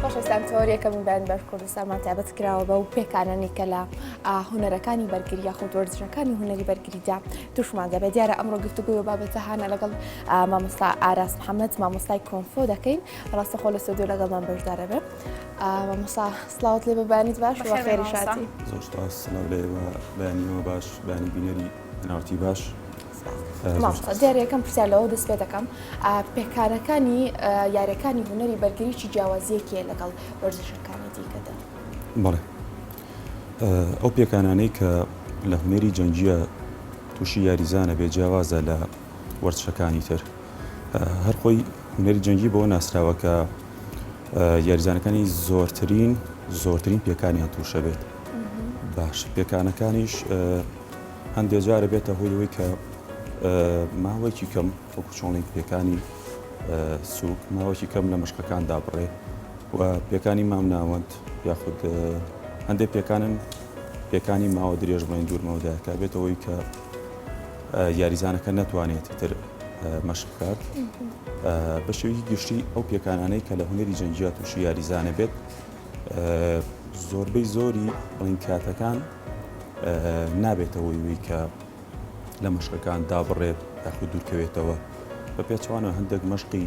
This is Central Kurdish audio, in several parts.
خۆشەویستان تۆریەکە بوودان بەر کوردستانمان تابەت کراوە بە و پێکانەنی کە لە هوەرەکانی بەرگری یاخود وەرزشەکانی هوەری بەرگریدا توشمان دەبێت دیارە ئەمڕۆ گفتوگوی و بابەتە هاانە لەگەڵ مامۆستا ئاراس محەممەد مامۆستای کۆنفۆ دەکەین ڕاستەخۆ لە سۆدیو لەگەڵمان بەشدارە بێت مامۆسا سلااوت لێ بەبانیت باش خێری شاتی زۆر بەیانەوە باش بانی بینەری ناوتی باش. مامۆستا دیارە یەکەم پرسیار لەوە دەست پێ دەکەم پێکانەکانی یاریەکانی هونەری بەرگری چی جیاوازیەکیە لەگەڵ وەرزشەکانی دیکەدا؟ بەڵێ ئەو پێکانانەی کە لە هونەری جەنگیە تووشی یاریزانە بێ جیاوازە لە وەرزشەکانی تر هەر خۆی هونەری جەنگی بۆ ناسراوە کە یاریزانەکانی زۆرترین زۆرترین پێکانیان تووشە بێت باش پێکانەکانیش هەندێک جار ئەبێتە هۆی ئەوەی کە ماوەیەکی کەم وەکو چۆڵین پێکانی سوک ماوەیەکی کەم لە مشکەکان دابڕێ و پێکانی مام ناوەند یاخود هەندێک پێکانن پێکانی ماوە درێژ بڵێن دوور مەودایەکە بێتەوەی کە یاریزانەکە ناتوانێت تر مەشق بکات بە شێوی گشتی ئەو پێکانانەی کە لە هونەری جەنگیا تووشی یاریزانە بێت زۆربەی زۆری بڵین کاتەکان نابێتە هۆی وی کە لە مەشقەکان دابڕێت یاخود دوورکەوێتەوە بە پێچوانە هەندێک مەشقی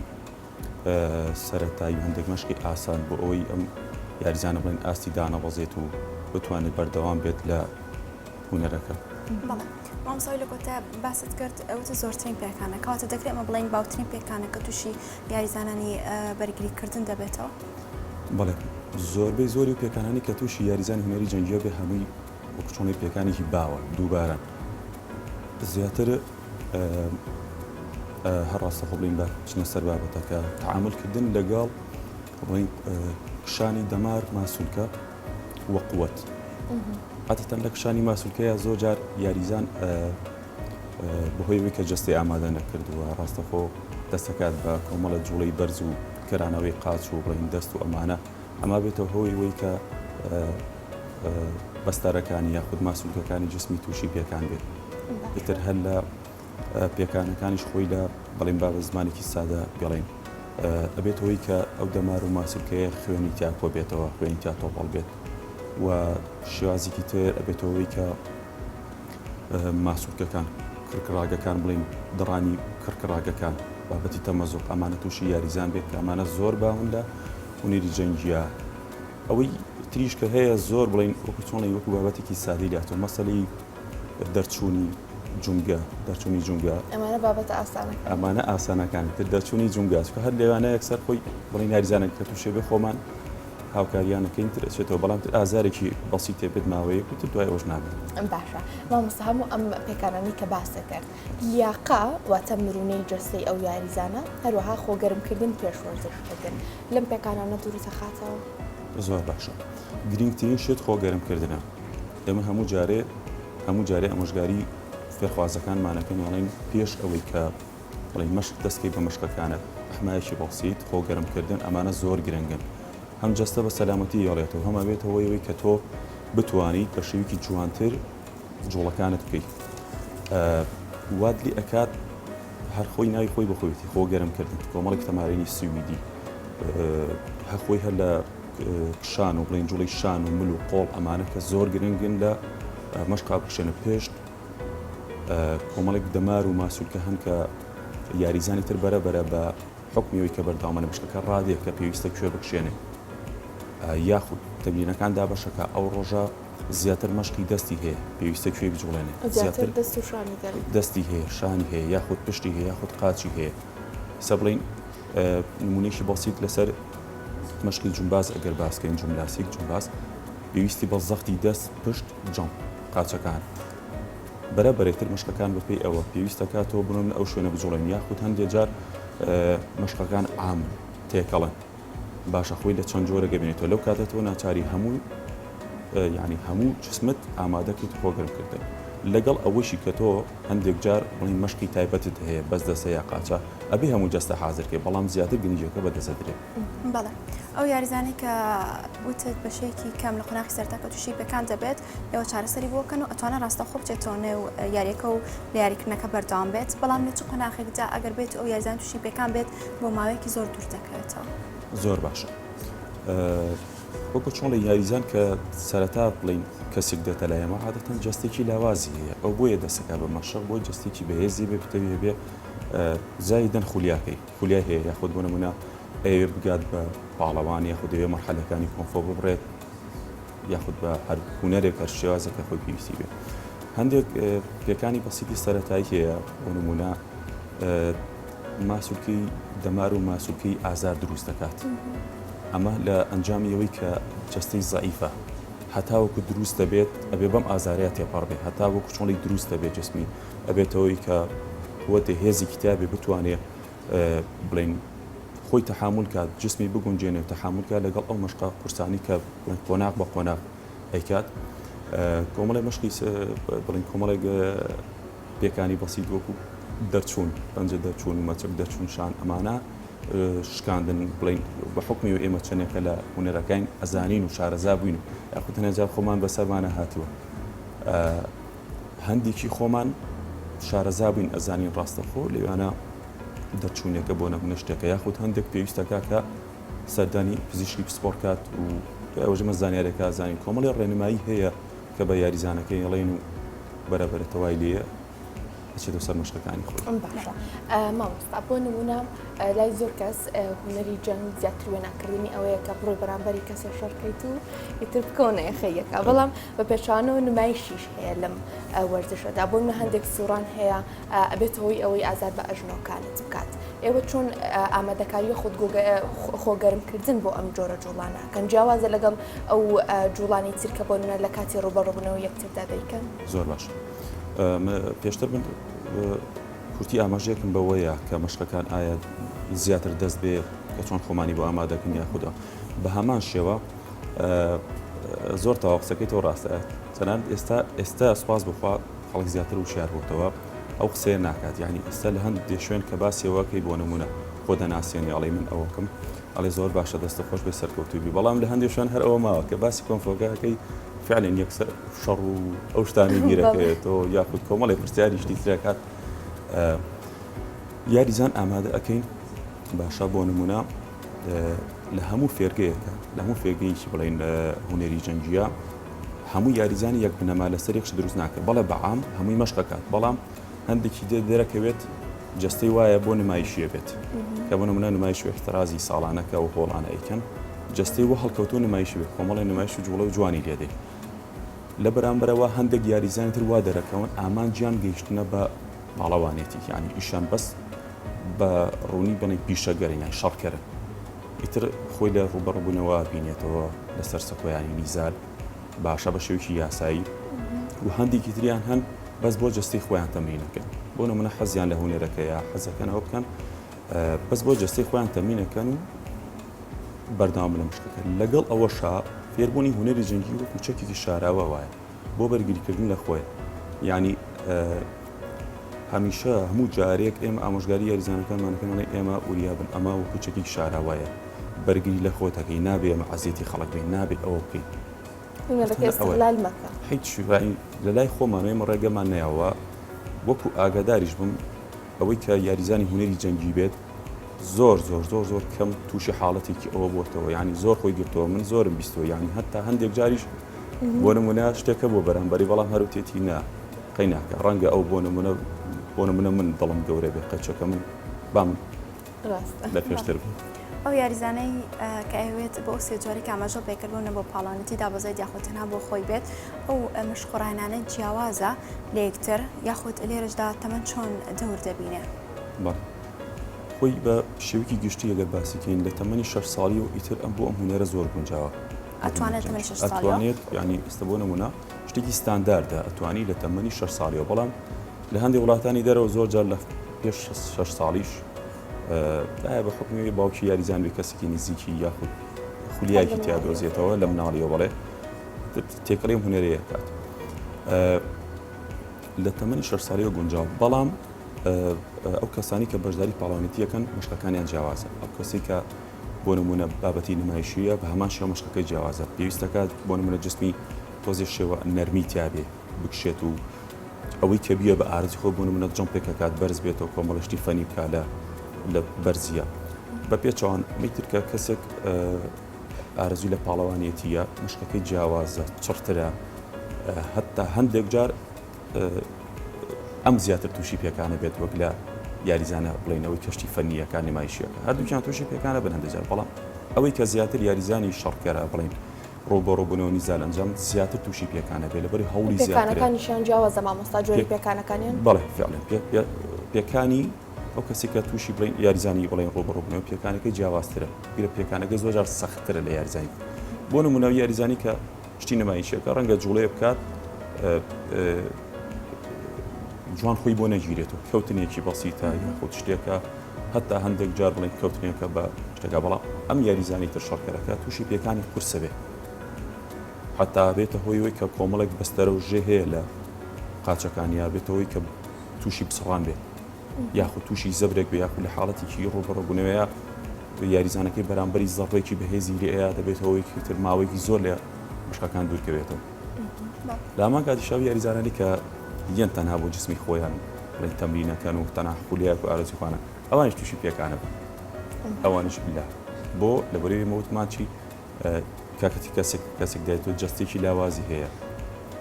سەتایی و هەندێک مەشقی ئاسان بۆ ئەوەی ئەم یاریزانە بڵێن ئاستی دانەبەزێت و بتوانێت بەردەوام بێت لە هوەرەکە. مامسای لە کۆتا باست کرد ئەوتە زۆرترین پێکانە کاتە دەکرێت ئەمە بڵین باوترین پێکانە کە تووشی یاریزانانی بەرگریکردن دەبێتەوە. بەڵێ زۆربەی زۆری و پێکانانی کە تووشی یاریزانی هونەری جەنگییەوە بێ هەمووی وەکو چۆنی پێکانێکی باوە دووبارە زیاتر هەر ڕاستەخۆ بڵین بە چنە سەر بابەتەکە تعاملکردن لەگەڵ ڕنگ کشانی دەمار ماسولکە وەقوت عادەتەن لە کشانی ماسولکەیە زۆر جار یاریزان بەهۆیەوەی کە جستەی ئامادە نەکردووە ڕاستەخۆ دەستەکات بە کۆمەڵە جوڵەی بەرز و کرانەوەی قاچ و ڕین دەست و ئەمانە ئەما بێتە هۆی وەی کە بەستەرەکانی یاخود ماسولکەکانی جسمی تووشی پێکان بێت ئیتر هەر لە پێکانەکانیش خۆی لە بەڵێن بابە زمانێکی سادە بڵێن ئەبێت هۆی کە ئەو دەمار و ماسولکەیە خوێنی تیا کۆ بێتەوە خوێنی تیا تۆپەڵ بێت و شێوازێکی تر ئەبێتەوەی کە ماسولکەکان، کرکڕاگەکان بڵێین دڕانی کرکڕاگەکان، بابەتی تەمەزۆق ئەمانە تووشی یاریزان بێت کە ئەمانە زۆر باون لە هونەری جەنگییا. ئەوەی تریش کە هەیە زۆر بڵێین وەکو چۆنی وەکو بابەتێکی سادەی لاتۆ مەسەلەی دەرچوونی جونگە دەرچوونی جونگە ئەمانە بابەتە ئاسانەکان ئەمانە ئاسانەکانی تر دەرچوونی جونگاچکە هەر لێوانەیەک سەر خۆی بڵێن یاریزانێک کە تووشێ بێ خۆمان هاوکاریانەکەین تر ئەچێتەوە بەڵام تر ئازارێکی بەسی تێبێت ماوەیەک و تر دوای ئەوش نامێت ئەم باشە مامۆستا هەموو ئەم پێکانانی کە باسە کرد لیاقا واتە مرونەی جەستەی ئەو یاریزانە هەروەها خۆگەرمکردن پێش وەرزشکردن لەم پێکانانە دووری تەخاتەوە زۆر باشە گرنگترین شێت خۆگەرمکردنە ئێمە هەموو جارێ هەموو جارێ ئەمۆژگاری فێرخوازەکانمانەکەن ئەڵین پێش ئەوەی کە بەڵی مەشق دەستکەی بە مەشقەکانت حمایەکی بەسیت خۆ گەرم کردن ئەمانە زۆر گرنگن هەم جەستە بە سەلامەتی یاڵێتەوە هەم ئەبێتەوەی وەی کە تۆ بتوانیت بە شێویکی جوانتر جوڵەکانت بکەیت واد لێ ئەکات هەر خۆی ناوی خۆی بەخۆیەتی خۆ گەرم کردن کۆمەڵێک تەمارینی سویدی هەخۆی هەر لە کشان و بڵین جوڵی شان و مل و قۆڵ ئەمانە کە زۆر گرنگن لە مەشقا بخشێنە پێشت کۆمەڵێک دەمار و ماسولکە هەن کە یاریزانی تر بەرە بەرە بە حوکمی ئەوەی کە بەردەوامە لە بشکەکە ڕادێ کە پێویستە کوێ بکشێنێ یاخود تەمرینەکان دابەشە کە ئەو ڕۆژە زیاتر مەشقی دەستی هەیە پێویستە کوێی بجوڵێنێ زیاتر دەستی هەیە شانی هەیە یاخود پشتی هەیە یاخود قاچی هەیە سە بڵین نمونەیەکی بەسیت لەسەر مەشقی جومباز ئەگەر باسکەین جوملاسیک جومباز پێویستی بە زەختی دەست پشت جەم قاچەکان بەرە بەرێتر مشقەکان بەپی ئەوە پێویستەکاتەوە بنۆ من ئەو شوێنە بجوڵێن یاخود هەندێک جار مشقەکان عام تێکەڵن باشە خۆی لە چەند جۆرە گەبێنێتەوە لەو کاتە تۆ ناچاری هەموو یعنی هەموو جسمت ئامادەکەیت خۆگرم کردن لەگەڵ ئەوەشی کە تۆ هەندێک جار بڵێن مەشقی تایبەتت هەیە بەس دەستە یا قاچە ئەبێ هەموو جەستە حازر کەی بەڵام زیاتر گرنگیەکە بە دەسە درێت. بەڵێ ئەو یاریزانەی کە وتت بە شێکی کەم لە قۆناخی سەرتا کە تووشی پێکان دەبێت ئێوە چارەسەری بۆکەن و ئەتوانە ڕاستە خۆ بچێتەوە نێو یاریەکە و لە یاریکردنەکە بەردەوام بێت بەڵام لە چ قۆناخێکدا ئەگەر بێت ئەو یاریزان تووشی پێکان بێت بۆ ماوەیەکی زۆر دوور دەکەوێتەوە. زۆر باشە وەکو چۆن لە یاریزان کە سەرەتا بڵین کەسێک دێتە لای ئێمە عادەتەن جەستێکی لاوازی هەیە ئەو بۆیە دەسەکە بە مەشق بۆی جەستێکی بەهێزی بێ بتەوی هەبێ زایدن خولیاکەی خولای هەیە یاخود بۆ نمونە ئەوێ بگات بە پاڵەوان یاخود دەوێ مەحلەکانی کۆنفۆ ببڕێت یاخود بە هەر هوەرێک هەر شێوازە کە خۆی پێویستی بێت هەندێک پێکانی بەسیتی سەتایی هەیە بۆ نمونە ماسولکەی دەمار و ماسولکەی ئازار دروست دەکات ئەمە لە ئەنجامی ئەوەی کە جەستەی زەعیفە هەتاوەکو دروست دەبێت ئەبێ بەم ئازارەیە تێپەڕ بێ هەتا وەکو چۆنی دروست دەبێت جسمی ئەبێتەوەی کە قوەتێ هێزی کتابێ بتوانێ بڵین خۆی تەحمل کات جسمی بگونجێنێ و تەحملکە لەگەڵ ئەو مەشقا قورسانی کە قۆناق بە قۆناق ئەیکات کۆمەڵی مەشقی بڵین کۆمەڵێک پێکانی بەسیت وەکو دەرچوون پەنجە دەرچوون مەچەک دەرچوون شان ئەمانە شکاندن بڵین بە حکمی و ئێمە چەندێکە لە هوەرەکەین ئەزانین و شارەزا بووین و یاخود هەنێجار خۆمان بەسەرمانە هاتووە هەندێکی خۆمان شارەزا بووین ئەزانین ڕاستەخۆ لەوانە دەرچوونێکە بۆ نەبوونە شتێکە یاخود هەندێک پێویستەکە کە سەردانی پزیشکی پسپۆڕکات و ئەوژمە زانیارێکە زانین کۆمەڵی ڕێنمایی هەیە کە بە یاریزانەکەی ئەڵێن و بەرە بەرە تەوای لێیە ئەچێتە سەر مەشقەکانی خۆی ئەم باشە مامۆستا بۆ نمونە لای زۆر کەس هوەری جەنگ زیاتر وێناکردنی ئەوەیە کە بڕۆی بەرامبەری کەسە شەڕکەیت و ئیتر بکەونەیە خەیەکە بەڵام بە پێچوانەوە نمایشیش هەیە لەم وەرزشەدا بۆ نە هەندێک سوڕان هەیە ئەبێتە هۆی ئەوەی ئازار بە ئەژنۆکانت بکات. ئێوە چۆن ئامادەکاری خود خۆگەرمکردن بۆ ئەم جۆرە جوڵانە ئەکەن جیاوازە لەگەڵ ئەو جوڵانی ترکە بۆ نە لە کاتی ڕوبەڕبوونەوە یەکتردا دەیکەن؟ زۆر باش پێشتر من کورتی ئاماژێکم بەوەیە کە مەشقەکان ئایا زیاتر دەست بێ کە چۆن خۆمانی بۆ ئامادەکەن یا خوددا بە هەمان شێوە زۆر تاوا قسەکەی تۆ ڕاستە تەنان ئێستا ئێستا سوپاس بخوا خەڵک زیاتر وشیار بۆتەوە ئەو قسەیە ناکات یانی ئیستا لە هەند دێ شوێن کە باسی ئەوە کەی بۆ نمونە خۆ دەناسێنی ئەڵی من ئەوکم ئەڵێ زۆر باشە دەستە خۆش بێ سەرکەوتوی بی بەڵام لە هەندێ شوێن هەر ئەوە ماوە کە باسی کۆنفۆگاکەی فعلێن یەکسەر شەڕ و ئەو شتانی بیرەکەێتەوە یاخود کۆمەڵی پرسیاری شتی ترەکات یاریزان ئامادە ئەەکەین باشە بۆ نمونە لە هەموو فێرگەیەەکە لە هەموو فێگەیکی بڵین هوەری جەنجە هەموو یاریزانی یەک بنەما لەسەر یەک شت دروست ناکرێت بەڵێ بە عام هەمووی مەشق ئەکات بەڵام هەندێکی دێ دەرەکەوێت جەستەی وایە بۆ نمایشیە بێت کە بۆ نمونە نمایشی احترازی ساڵانەکە و هۆڵانە ئەیکەن جەستەی وە هەڵکەوتو نمایشی بێت کۆمەڵی نمایش و جوڵە و جوانی لێدەی لە بەرامبەرەوە هەندێک یاریزانی تر وا دەرەکەون ئامانجیان گەیشتنە بە پاڵەوانێتی یانی ئیشان بەس بە ڕوونی بڵین پیشەگەرن یان شەڕکەرن ئیتر خۆی لە ڕووبەڕووبوونەوە بینێتەوە لەسەر سەکۆیانی نیزار باشە بە شێوکی یاسایی و هەندێکی تریان هەن بەس بۆ جستی خۆیان تەمرینەکەن بۆ نمونە حەزیان لە هوەرەکەیە حەزەکەنەوە بکەن بەس بۆ جستی خۆیان تەمینەکەن و بەرداوام لە مشکەکە لەگەڵ ئەوەشا فێربوونی هوەری جەنگی وەکو چەکێکی شاراوە وایە بۆ بەرگریکردن لە خۆیان یعنی هەمیشە هەموو جارێک ئێمە ئامۆژگاری یاریزانەکانمانەکەمانەی ئێمە وریابن ئەمە و کوچەکی شاراوایە بەرگری لە خۆتەکەی نابێ ئەمە عزیێتی خەڵک بین نابێت ئەوە بکەیت هیچ شوایی لە لای خۆمانەوە ئمە ڕێگەمان ناوە وەکو ئاگاداریش بم ئەوەی کە یاریزانی هوەری جەنگی بێت زۆر زۆر زۆر زۆر کەم تووشی حاڵەتێکی ئەوە بۆتەوە ینی زۆر خۆی گرتەوە من زۆرم بیستەوە ینی هەتا هەندێک جاریش بۆ نمونە شتێکە بۆ بەرامبەری بەڵام هەروتێتی نا قەی ناکە ڕەنگە ئەو بۆ نمونە بۆ نمونە من دڵم گەورە بێ قەچەکە من بام لە پێشتر بێت. ئەو یاریزانەی کە ئەوێت بۆ ئەو سێجاری کامەژە پێکردونە بۆ پاڵانەتی دابەزێت یاخود تەنها بۆ خۆی بێت ئەو مشخڕانانە جیاوازە لە یەکتر یاخود لێرشدا تەمەەن چۆن دەور دەبینێ. خۆی بە شێوکی گشتی ئەگەر باسیکەین لە تەمەنی شەش ساڵی و ئیتر ئەم بۆ ئەم هوەرە زۆر گونجاوە ئەتوانێت تەمەنی شەش ساڵیەوە ئەتوانێت یانی ئێستا بۆ نمونە شتێکی ستانداردە ئەتوانی لە تەمەنی شەش ساڵیەوە بەڵام لە هەندی وڵاتانی دەرەوە زۆر جار لە پێش شەش ساڵیش ئایا بە حکومی باوکی یاریزان بێ کەسێکی نزیکی یاخود خولیایکی تیا دۆزێتەوە لە مناڵیەوە بڵێ تێکەڵی هوەرەیە کات لە تەمەنی شەش ساڵیەوە گونجاو بەڵام ئەو کەسانی کە بەشداری پاڵاوانێتیەکەن مشقەکانیان جیاوازە ئەو کەسی کە بۆ نموونە بابەتی نمایشییە، بە هەمان شێوە مەشقەکەی جیاوازە، پێویست دەکات بۆ نموونە جسمی تۆزێ شێوە نەرمی تیابێ بکشێت و ئەوەی کە بییە بە ئارەزی خۆی بۆ نموونە جەمپێک ئەکات بەرز بێتەوە کۆمەڵێ شتی فەنی بکا لە لە بەرزییە بە پێچەوان ئەمەی تر کە کەسێک ئارەزوی لە پاڵەوانێتیە مشقەکەی جیاوازە چڕترە هەتا هەندێک جار ئەم زیاتر تووشی پێکانە بێت وەک لە یاریزانە بڵێن ئەوەی کەشتی فەنیەکان نمایشیەکە هەردووکیان تووشی پێکانە بن هەندێک بەڵام ئەوەی کە زیاتر یاریزانی شەڕکەرە بڵین ڕۆبەڕۆبوونەوە نیزان ئەنجام زیاتر تووشی پێکانە بێ لەبەری هەوڵی زیاتەکانیشیان جیاوازە مامۆستا جۆری پێکانەکانیان بەڵێ فعلێن پێکانی ئەو کەسی کە تووشی بڵین یاریزانی بڵین ڕۆبەڕۆبوونەوە پێکانەکەی جیاوازترە گرە پێکانەکە زۆجار سەختترە لە یاریزانی بۆ نمونەوە یاریزانی کە شتی نمایشیەکە ڕەنگە جوڵەیە بکات جوان خۆی بۆ نەگیرێت و کەوتنێکی بەسیتە یاخود شتێکە هەتا هەندێک جار بڵێن کەوتنێکە بە شتەکە بەڵام ئەم یاریزانی تر شەڕکەرەکە تووشی پێکانی قورسە بێ حتا بێتە هۆی وی کە کۆمەڵێک بەستەرە و ژێ هەیە لە قاچەکانیا بێتەوەی کە تووشی بسڕان بێت یاخود تووشی زەبرێک بێ یاخود لە حاڵەتێکی ڕووبەڕووبوونەوەیە یاریزانەکەی بەرامبەری زەڕڕێکی بەهێزی لێ ئەیا دەبێت هەوەیەکی تر ماوەیەکی زۆر لە مشکەکان دوورکەوێتەوە لە هەمان کاتیشاوی یاریزانانی کە یەن تەنها بۆ جسمی خۆیان بڵین تەمرینەکەن و تەنها خولیاک و ئارزوخانە ئەوانش تووشی پێکانە بن ئەوانش لە بۆ لە بەرەوی مەوتمانچی کاتێک کەسێک دایتۆ جەستەیەکی لاوازی هەیە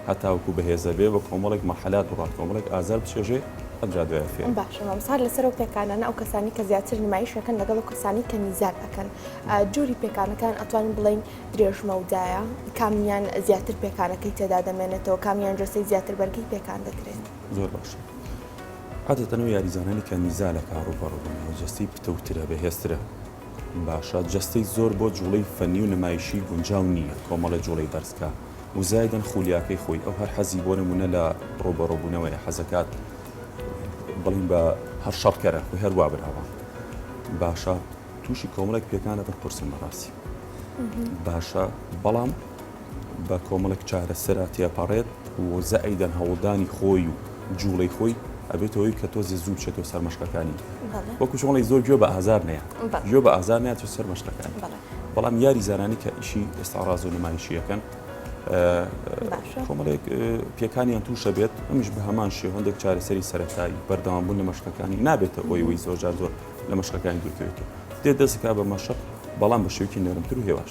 هەتاوکو بەهێزە بێ بە کۆمەڵێک مەحلات بڕات کۆمەڵێک ئازار بچێژێ ئەجا دوای فێ باشمسار لەسەر و پێکانانە ئەو کەسانی کە زیاتر نمایشەکەن لەگەڵ و کەسانی کە نیزار ئەەکەن جووری پێکانەکان ئەتوانین بڵین درێژمەودایە کامیان زیاتر پێکانەکەی تێدا دەمێنێتەوە کامیان جۆسەی زیاتر بەرگی پێکان دەکرێن زۆر باش. عادەتەنەوە یاریزانانی کە نیزالە کاڕوو بەڕووبن و جەستەی پتەوترە بەهێسترە باشە جەستەی زۆر بۆ جوڵەی فەنی و نمایشی گونجاو نییە کۆمەڵێ جوڵەی بەرز کا و زایدەن خولیاکەی خۆی ئەو هەر حەزی بۆ نمونە لە ڕوبەڕو بونەوەیە حەزەکات بڵین بە هەر شەڕکەرە خۆی هەر وا براوە باشە توشی کۆمەڵێک پێکانە بەر قورسن بەڕاستی باشە بەڵام بە کۆمەڵێک چارەسەرا تێپەڕێت و زائیدەن هەوڵدانی خۆی و جوڵەی خۆی ئەبێتە هۆی کە تۆزێ زوو بچێتەوە سەر مەشقەکانی وەکو چۆن ئەڵێی زۆر گوێ بە ئازار نەیە گوێ بە ئازار نەیەچێت سەر مەشقەکانی بەڵام یاریزانانی کە ئیشی ئێستاڕاز و نمایشی یەکەن کۆمەڵێک پێکانیان تووشە بێت ئەمیش بە هەمان شێ هەندێک چارەسەری سەرەتایی بەردەوام بوون لە مەشقەکانی نابێتە ئەوی وی زۆرجار زۆر لە مەشقەکانی دوورکەوێتەوە دێ دەستکا بە مەشق بەڵام بە شێوکی نەرمتر و هێواش.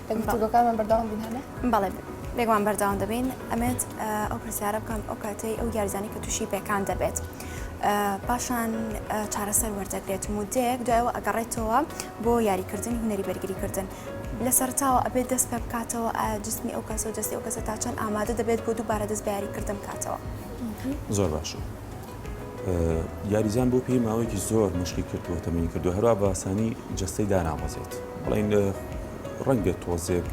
لە گفتوگۆکانمان بەردەوام بین هەنێ؟ بەڵێ بێگومان بەردەوام دەبین ئەمێت ئەو پرسیارە بکەم ئەو کاتەی ئەو یارزانی کە تووشی پێکان دەبێت پاشان چارەسەر وەردەگرێت مدەیەک دوایەوە ئەگەڕێتەوە بۆ یاریکردنی هوەری بەرگریکردن لە سەرتاوە ئەبێت دەست پێ بکاتەوە ئایا جسمی ئەو کەسە و جستی ئەو کەسە تا چەند ئامادە دەبێت بۆ دووبارە دەست بەیاریکردن بکاتەوە زۆر باشە. یاریزان بۆ پێی ماوەیەکی زۆر مشکی کردووە تەمەنی کردو هەروە بە ئاسانی جستەی داناوەزێت بڵین ڕەنگە تۆزێک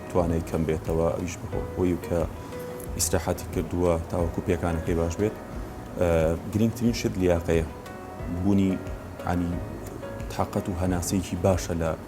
توانای کەم بێتەوە ئەویش بەهۆ بۆی کە ئیسراحاتی کردووە تاوەکو پێکانەکەی باش بێت گرنگترین شت لیاقەیە بوونی عنی تااقەت و هەناسەیەکی باشە لە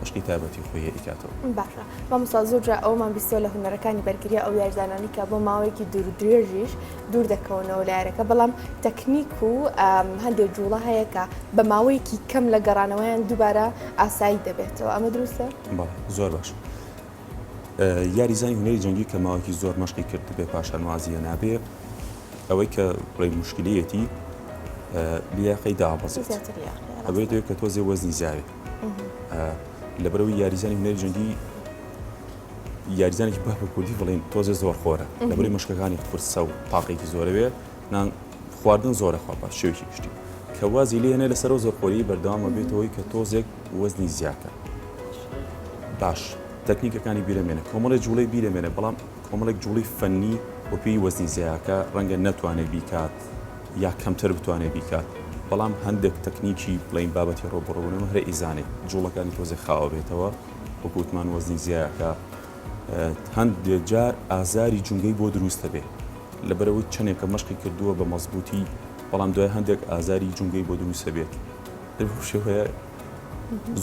مەشقی تایبەتی خۆی ئەیکاتەوە. باشە مامۆستا زۆر جار ئەوەمان بیستوە لە هونەرەکانی بەرگری ئەو یاریزانانی کە بۆ ماوەیەکی دوور درێژیش دوور دەکەونەوە لە یارەکە بەڵام تەکنیک و هەندێک جوڵە هەیە کە بە ماوەیەکی کەم لە گەڕانەوەیان دووبارە ئاسایی دەبێتەوە ئەمە دروستە بەڵێ زۆر باش یاریزانی هونەری جەنگی کە ماوەکی زۆر مەشقی کرد بێ پاشان وازیە نابێ ئەوەی کە بڵێ مشکلەتی لیاقەی دابەزێت ئەوێت کە تۆزێ وەزنی زیاوێت لەبەرئەوەی یاریزانی هونەری جەنگی یاریزانێکی بە کوردی بڵین تۆزێ زۆر خۆرە لەبری مشکەکانی فرسە و تاقێکی زۆرەوێ نان خواردن زۆرە خوا بە شێوکی گشتی کە وازی لێنە لەسەرەوە زۆر خۆری بەردەوامە بێتەوەی کە تۆزێک وەزنی زیاکە باش تەکنیکەکانی بیرەمێنە کۆمەڵی جوڵی بیرەمێنە بەڵام کۆمەڵێک جوڵی فەنی وەپی وەزنی زیاکە ڕەنگە نەتوانێت بیکات یا کەمتر بتوانێت بیکات بەڵام هەندێک تەکنیکی بڵێین بابەتی ڕۆبۆڕۆبونەوە هەرە ئیزانێ جوڵەکانی تۆزێ خاوە بێتەوە وەکو وتمان وەزنی زیایەکە هەندێ جار ئازاری جونگەی بۆ دروستە بێ لەبەرەوەی چەندێکە مەشقی کردووە بە مەزبوتی بەڵام دوای هەندێک ئازاری جونگەی بۆ دروستە بێت شێوەیە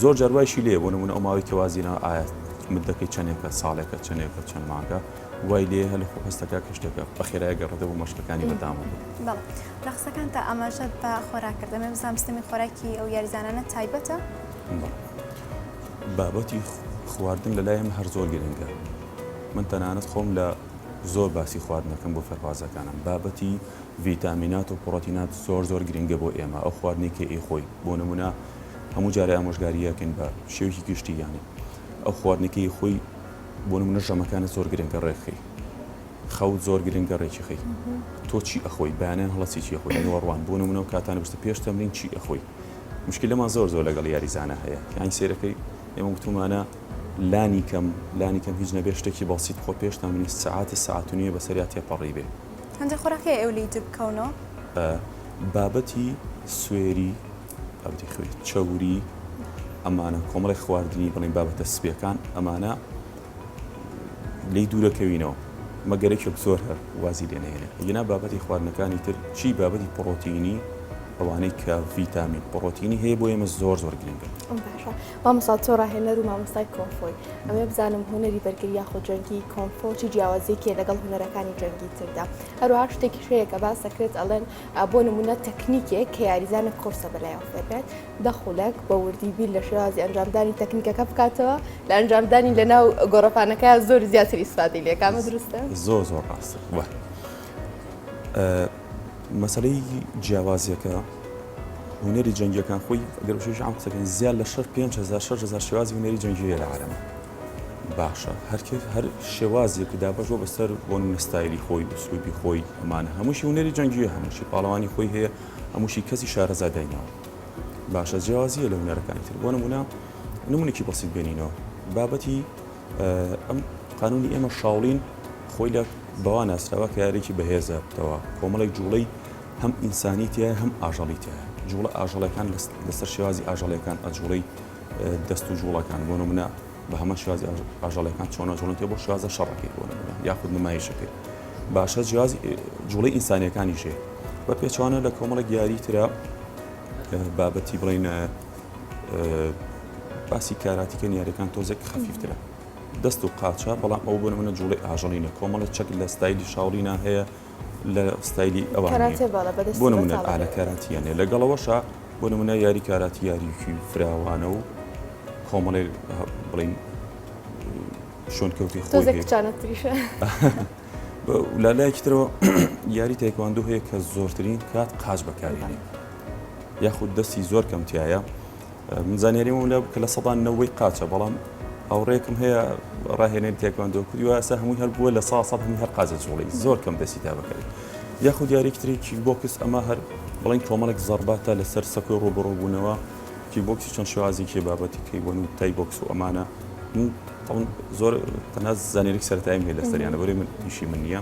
زۆر جاروایشی لێ بۆ نمونە ئەو ماوەی کەوازینەوە ئاات مدەکەی چەندێکە ساڵێکە چەندێکە چەند ماکە وای لێ هەلە خۆ هەستەکە کشتەکە بە خێرای گەڕێتە بۆ مەشقەکانی بەردەوامە بێت. بەڵێ لە قسەکانتا ئاماژەت بە خۆراک کرد ئەمێ بزانم سیستەمی خۆراکی ئەو یاریزانانە تایبەتە؟ بەڵێ بابەتی خواردن لەلای ئێمە هەر زۆر گرنگە من تەنانەت خۆم لە زۆر باسی خواردنەکەم بۆ فێرخوازەکانم بابەتی ڤیتامینات و پڕۆتینات زۆر زۆر گرنگە بۆ ئێمە ئەو خواردنی کە ئێ خۆی بۆ نمونە هەموو جارێ ئامۆژگاریەکەین بە شێوکی گشتی یانی ئەو خواردنەکەی خۆی بۆ نمونە ژەمەکانت زۆر گرنگە ڕێکخەی خەوت زۆر گرنگە ڕێکی خەی تۆ چی ئەخۆی بەیانیان هەڵە چیچی خۆی نێوەڕوان بۆ نمونە و کاتانە بستە پێش تەمرین چی ئەخۆی مشکلەمان زۆر زۆر لەگەڵ یاریزانە هەیە کەین سێرەکەی ئێمە گوتومانە لانی کەم لانی کەم هیچ نەبێ شتێکی بەسییت خۆ پێش تەمرین سعات سعات و نیە بەسەریا تێپەڕی بێ هەندێک خۆراکی ئەو لی جبکەونەوە. بابەتی سوێری. بابەتی خوێ چەوری ئەمانە کۆمەڵێک خواردنی بڵێن بابەتە سپیەکان ئەمانە لی دوورەکەوینەوە مەگەرەێک زۆر هەر وازی لێنێنێ ئەگینا بابەتی خواردنەکانی تر چی بابەتی پڕۆتینی ئەوانەی کە ڤیتامین پڕۆتینی هەیە بۆ ئێمە زۆر زۆر گرنگە مامەسا تۆ ڕاهێنەر و مامۆستای کۆنفۆی ئەمێ بزانم هوەری بەرگری یاخۆ جەنگی کۆنفۆچی جیاوازێکێ لەگەڵ هوەرەکانی جەنگی تردا هەروها شتێکی شەیەکە باس دەکرێت ئەڵێن بۆ نموونە تەکنیکێک کە یاریزانێک قورسە بەلای ئەو فێربێت دە خولەک بە وردی بیر لە شێوازی ئەنجامدانی تەکنیکەکە بکاتەوە لە ئەنجامدانی لەناو گۆڕەپانەکە زۆر زیاتر ئیسفادەی لێکامە دروستە زۆر زۆر ڕاستە وە مەسلەی جیاوازیەکە هوەری جەنگەکان خۆی گەرشیش ئەم قسەکەین زیاد لە شەر 5 هزار 6 هزار شێوازی هوەری جەنگی لە عالەمە باشە هەر کەس هەر شێوازێک دابەش بۆ بەسەر بۆ نمونە ستایلی خۆی و ئسلوبی خۆی ئەمانە هەمووشی هونەری جەنگیە هەمووشی پاڵەوانی خۆی هەیە هەمووشی کەسی شارەزا دایناوە باشە جیاوازیە لە هونەرەکانی تر بۆ نمونە نمونێکی بەسیت بێنینەوە بابەتی ئەم قانونی ئێمە شاوڵین خۆی لە بەوا ناسراوە کە یارێکی بەهێزە بتەوە کۆمەڵێک جوڵەی هەم ئینسانی تایە هەم ئاژەڵی تایە جوڵە ئاژەڵەکان لەسەر شێوازی ئاژەڵەکان ئەجوڵی دەست و جوڵەکان بۆ نمونە بە هەمە شازی ئاژەڵەکان چۆنە جوڵن تێ بۆ شازە شەڕەکەی بۆ نمونە یاخود نمایشەکەی باشە جیاز جوڵی ئینسانیەکانی ژێ بە پێچوانە لە کۆمەڵە گیاری تررا بابەتی بڵین باسی کاراتیکە نیارەکان تۆزێک خەفیفترە دەست و قاچە بەڵام ئەو بۆ منە جوڵی ئاژەڵینە کۆمەڵە چەک لە ستایلی شاوڵینا هەیە لە ستایلی ئەوان نیە بۆ نمونە ئالە کاراتییان نیە لەگەڵ ئەوەشا بۆ نمونە یاری کاراتی یاریکی فراوانە و کۆمەڵێ بڵین شوێن کەوتی خۆزێکچانەتریشە لا لایەکی ترەوە یاری تایکواندو هەیە کە زۆرترین کات قاچ بەکارێنێ یاخود دەستی زۆر کەمتیایە من زانیاریم ئەوە لە کە لە سەدا نەوەی قاچە بەڵام هاوڕێکم هەیە ڕاهێنەر تێکواندۆ کردی و ئاسا هەمووی هەر بووە لە سا سەد هەمی هەر قاچە جوڵی زۆر کەم دەستی تا بەکەی یاخود دیارێکتری کیک بۆکس ئەمە هەر بڵین کۆمەڵێک زەرباتە لەسەر سەکۆی ڕۆبڕۆبوونەوە کی بۆکسی چەند شێوازێکی بابەتی کەی وەن و تای بۆکس و ئەمانە زۆر تەناز زانێریک سەرتایم هەیە لەسەریانە بەێ من پیشی من نییە.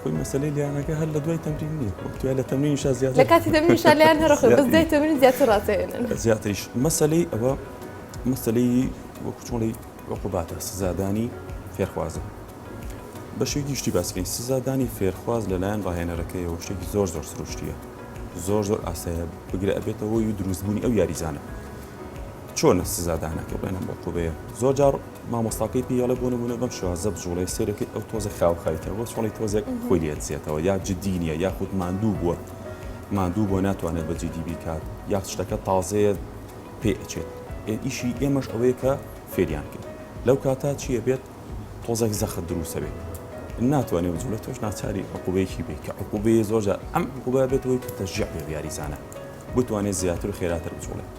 خۆی مەسەلەی لیانەکە هەر لە دوای تەمرین نییە وەک توای لە تەمرین شا زیاد لە کاتی تەمرین شا لیان هەرخۆ بەس دوای تەمرین زیاتر ڕاتێنن زیاتریش مەسەلەی ئەوە مەسەلەی وەکو چۆڵی عقوباتە سزادانی فێرخوازە بەشێکی شتی باسکەین سزادانی فێرخواز لەلایەن ڕاهێنەرەکەیەوە شتێکی زۆر زۆر سروشتیە زۆر زۆر ئاسایە بگرە ئەبێتەوە و دروستبوونی ئەو یاریزانە چۆنە سزادانەکە بڵێنە موقوبەیە زۆر جار مامۆستاکەی پیاڵە بۆ نمونە بەم شوازە بجوڵێ سێرەکەی ئەو تۆزە خاوخایکە بۆ چۆڵی تۆزێک خۆی لێدزێتەوە یا جددی نیە یاخود ماندوو بووە ماندوو بۆ ناتوانێت بە جددی بیکات یا شتەکە تازەیە پێ ئەچێت ئیشی ئێمەش ئەوەیە کە فێریان کرد لەو کاتا چیە بێت تۆزێک زەخە دروسە بێت ناتوانێ بجوڵێت تۆش ناچاری عقوبەیەکی بێ کە عقوبەیە زۆرجار ئەم عقوبە بێتەوەی کە تەژیع بێ یاریزانە بتوانێت زیاتر و خێراتر بجوڵێت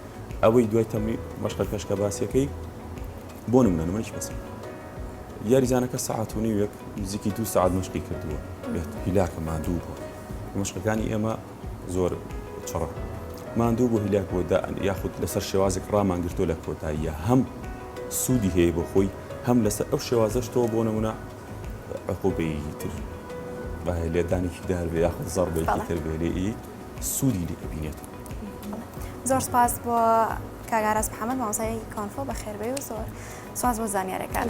ئەوەی دوای تەمری مەشقە کەشکە باسیەکەی بۆ نمونە نمونەش بەسم یاریزانەکە سەعاتونی وێک نزیکی دو سعات مەشقی کردووە بێت هیلاکە مادوو بووە مەشقەکانی ئێمە زۆر چڕە مادوو بۆ هیلاک بۆ دائن یاخود لەسەر شێوازێک ڕامانگرتۆ لە کۆتاییە هەم سوودی هەیە بۆ خۆی هەم لەسەر ئەو شێوازەشتەوە بۆ نمونە عقوبەیتر لێدانێکی دار بێ یاخود زەڕبێکی تر بێ لێ سوودی لێ ئەبینێت. زۆر سپاس بۆ کاک ئاراس محەمەد مامۆستای کانفۆ بەخێربێی و زۆر سپاس بۆ زانیارەکانت.